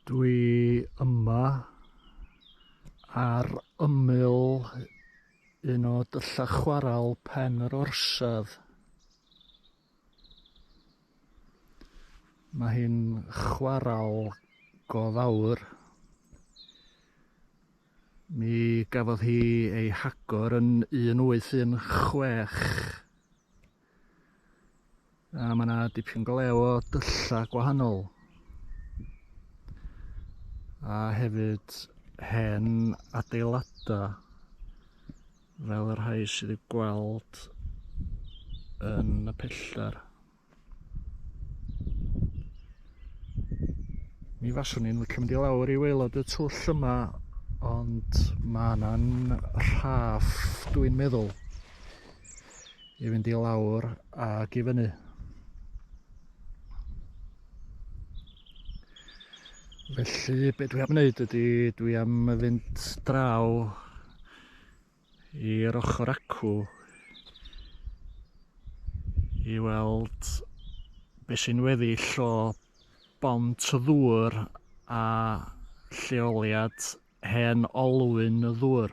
Dwi yma ar ymyl un o dylla chwaral Pen yr Orsedd. Mae hi'n chwaral go fawr. Mi gafodd hi ei hagor yn 1816 A mae yna dipyn glew o dyllau gwahanol. A hefyd hen adeiladau fel y rhai sydd wedi gweld yn y pellter. Mi faswn i'n licio mynd i lawr i waelod y twll yma, ond mae yna'n rhaff dwi'n meddwl. i fynd i lawr ac i fyny. Felly be dwi am wneud ydy dwi am fynd draw i'r ochr acw i weld be sy'n weddill o bont y ddŵr a lleoliad hen olwyn y ddŵr.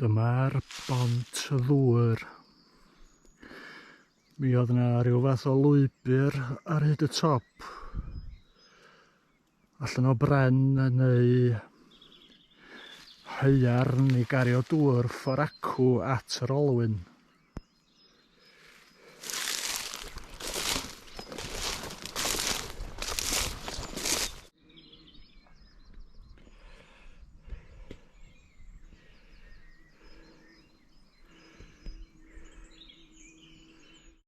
Dyma'r bont y ddŵr. Mi oedd yna rhyw fath o lwybr ar hyd y top. allan o bren neu haearn i gario dŵr ffor acw at yr olwyn.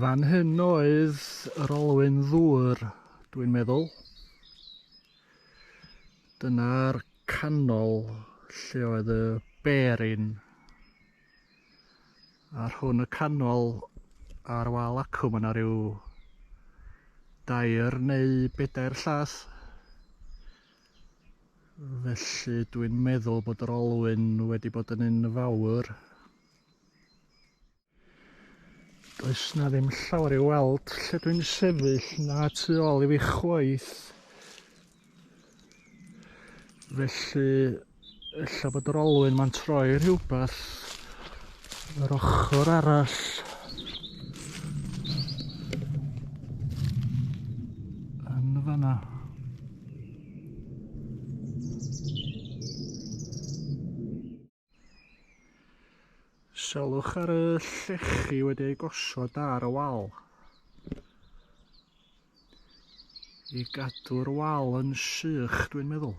Fan hyn oedd yr olwyn ddŵr, dwi'n meddwl. Dyna'r canol lle oedd y berin. A rhwng y canol a'r wal acw mae yna rhyw dair neu bedair llath. Felly dwi'n meddwl bod yr olwyn wedi bod yn un fawr. Does na ddim llawer i'w weld lle dwi'n sefyll na tu ôl i fi chwaith. Felly, ella bod yr olwyn ma'n troi rhywbeth yr ochr arall. Yn y fanna. Selwch ar y llechi wedi ei gosod ar y wal. I gadw'r wal yn sych, dwi'n meddwl.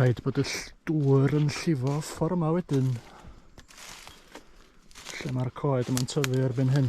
rhaid bod y dŵr yn llifo ffordd yma wedyn lle mae'r coed yma'n tyfu erbyn hyn.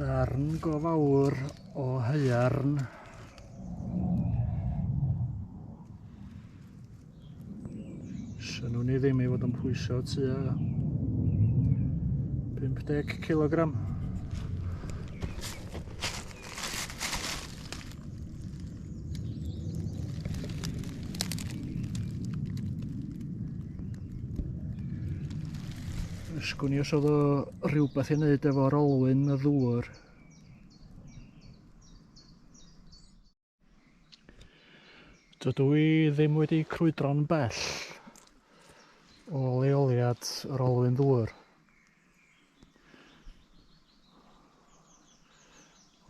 darn go fawr o haearn Synnwn ni ddim i fod yn pwyso tua 50 kilogram. Ysgwn i os oedd o rhywbeth i wneud efo'r olwyn y ddŵr Dydw i ddim wedi crwydro'n bell o leoliad yr olwyn ddŵr.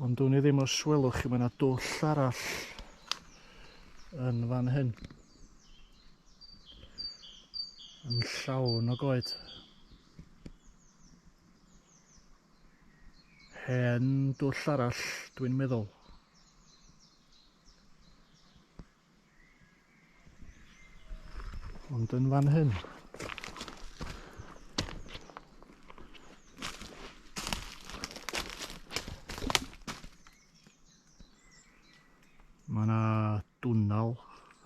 Ond dwn i ddim os welwch chi, mae yna dwll arall yn fan hyn. Yn llawn o goed. Hen dwll arall, dwi'n meddwl. Ond yn fan hyn. Mae yna dwnnel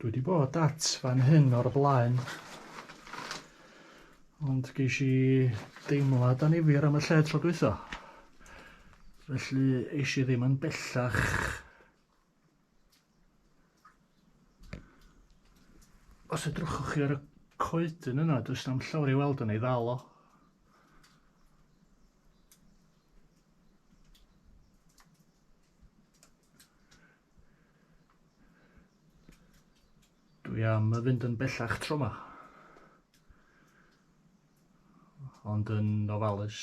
Dwi wedi bod at fan hyn o'r blaen. Ond geis i deimlad anifir am y lle tro dwytho. Felly eis i ddim yn bellach Os edrychwch chi ar y coedyn yna, does na'm llawer i weld yn ei ddal o. Dwi am y fynd yn bellach tro yma. Ond yn ofalus.